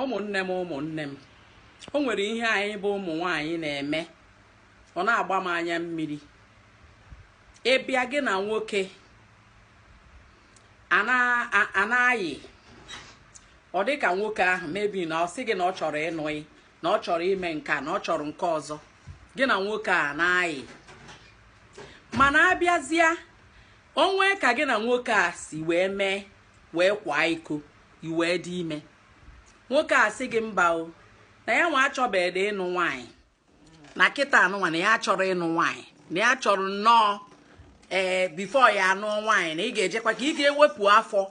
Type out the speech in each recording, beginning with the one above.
ụmụnne m ụmụnne m o nwere ihe anyị bụ ụmụ nwaanyị na-eme ọ na-agba m anya mmiri ị bịa gị na nwoke a na-ayị ọ dị ka nwoke ahụ maybe na ọ sị gị na ọ chọrọ ịnụ gị na ọ chọrọ ime nke na ọ chọrọ nke ọzọ gị na nwoke a na-ayị mana a bịazịa o nwee ka gị na nwoke a si wee mee wee kwaa iko i wee dị ime nwoke a sị gị mba o na ya nwa achọbeghị ịnụ nwaanyị na kịta anụnwa na ya achọrọ ịnụ nwaanyị na ya chọrọ nnọọ ee before ya anụọ nwaanyị na ị ga-ejekwa ka ị ga-ewepụ afọ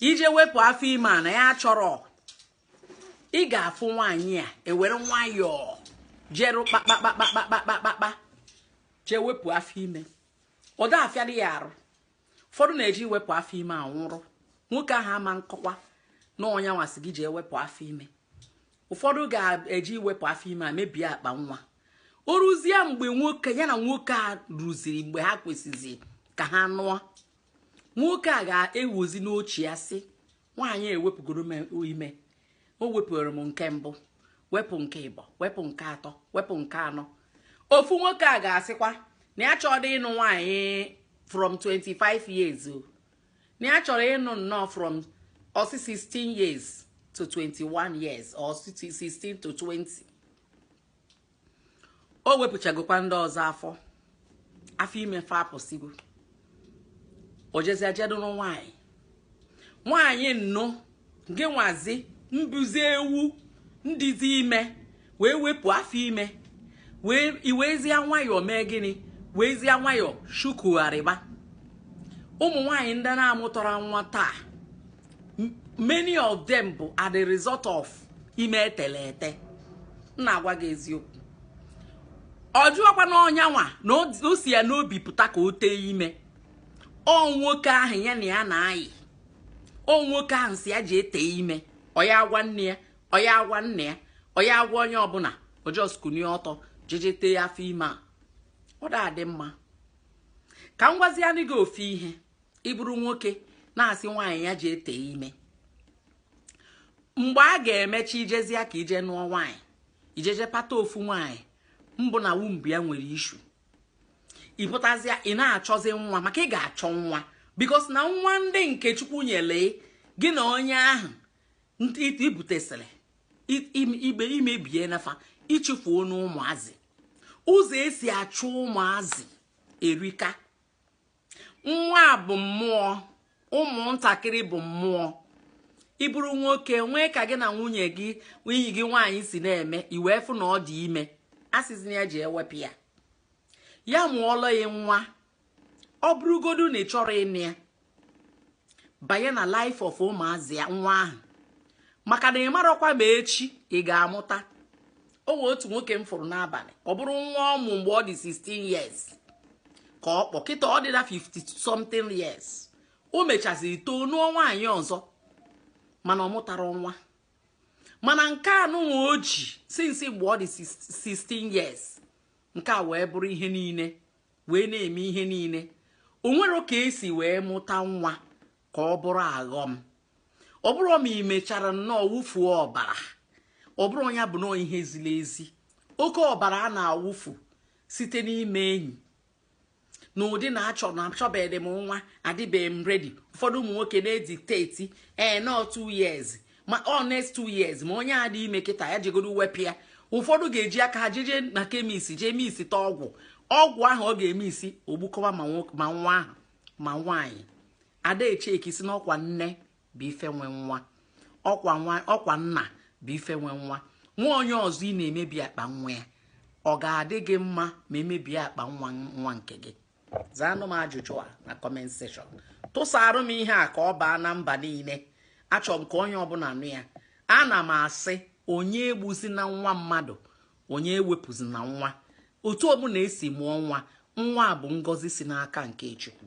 i je wepụ afọ ime a na ya achọrọ ị ga-afụ nwaanyị a ewere nwayọọ jeru kpakpakpakpakpakpakpa jee wepụ afọ ime ọ da-afịadị ya arụ ụfọdụ na-eji iwepụ afọ ime anwụrụ nwoke ahụ ama kọkwa na ọ ya nwa sị gị jee wepụ afọ ime ụfọdụ ga-eji iwepụ afọ ime a mebie akpa nwa o ruzie mgbe nwoke ya na nwoke a ruziri mgbe ha kwesịzi ka ha nụọ nwoke a ga-ekwuzi n'uche ya sị nwaanyị ewepụgoro m ime o wepụrụ m nke mbụ wepụ nke ịbọ wepụ nke atọ wepụ nke anọ ofu nwoke a ga-asịkwa na ya achọrọ ịnụ nwaanyị from 25 years o na ya chọrọ ịnụ nnọọ from ọ sị 16 years to 21 years or 16 to 20 o wepụchagokwa ndị ọzọ afọ afọ ime fa apụsigo o jezie je duru nwaanyị nwaanyị nnụ gị nwazi mbụzi ewu ndịzi ime wee wepụ afọ ime wee i wezie nwayọọ mee gịnị weezie nwayọọ shukugharịba ụmụ nwaanyị ndị na-amụtarọ nwa taa many of them bụ are the result of ime e tele ete m na-agwa gị eziokwu ọ bụrọkwa na onye a nwa na o si ya n'obi pụta ka o tee ime ọ nwoke ahụ ya na ya na-ayị ọ nwoke ahụ sị ya jee tee ime ọ ya agwa nne ya ọ ya agwa nna ya ọ ya agwa onye ọbụla ọ just kunie ọtọ jeje tee afọ ime a ọ da adị mma ka m gwazianụ gị ofu ihe ị bụrụ nwoke na-asị nwaanyị ya jee tee ime mgbe a ga-emecha i jezia ka i je nụọ nwaanyị i jeje pata ofu nwaanyị mbụ na womb ya nwere issue ị pụtazịa ị na-achọzi nwa maka ị ga-achọ nwa because na nwa ndị nke chukwu nyele gị na onye ahụ i bu tesịrị ime bụ na fa ị chụfuonụ ụmụazị ụzọ e si achụ ụmụazị erika nwa bụ mmụọ ụmụntakịrị bụ mmụọ ị bụrụ nwoke nwee ka gị na nwunye gị enyi gị nwaanyị si na-eme i wee fụ na ọ dị ime asịzina ya jee wepụ ya ya mụọlọ ya nwa ọ bụrụgodu na ị chọrọ ịnụ ya banye na life of ụmụazị a nwa ahụ maka na ị marọkwa ma echi ị ga-amụta o nwee otu nwoke m fụrụ n'abalị ọ bụrụ nwa ọ mụ mgbe ọ dị 16 years ka ọ kpọ kịta ọ dịla 50 something years o mechaziri too nụọ nwaanyị ọzọ mana ọ mụtara nwa mana nke anụnwa o ji since mgbe ọ dị 16 years nke a wee bụrụ ihe niile wee na-eme ihe niile o nwere ka e si wee mụta nwa ka ọ bụrụ aghọm ọ bụrụ ma ị mechara nnọọ wụfuo ọbara ọ bụrụ ya bụ nọọ ihe ziri ezi oke ọbara a na-awụfu site n'ime enyi n'ụdị na achọ na achọbeghị m nwa adịbeghị m ready ụfọdụ ụmụ nwoke na-editeti ee nọọ two years ma ọ next two years ma onye a dị ime kịta ya jegodo wepụ ya ụfọdụ ga-eji aka ha jeje na chemist jee mixita ọgwụ ọgwụ ahụ ọ ga-emixi o gbukọwa ma nwa ahụ ma nwaanyị a da echeki sị na ọkwa nne bụ ife nwe nwa ọkwa nna bụ ife nwe nwa nwa onye ọzọ ị na-emebi akpa nwa ya ọ ga-adị gị mma ma e mebie akpa nwa nwa nke gị zaanụ m ajụjụ a na comment section tụsarụ m ihe a ka ọ baa na mba niile achọrọ m ka onye ọbụla nụ ya ana m asị onye egbuzina nwa mmadụ onye ewepụzina nwa otu ọbụla e si mụọ nwa nwa bụ ngọzi si n'aka nke chukwu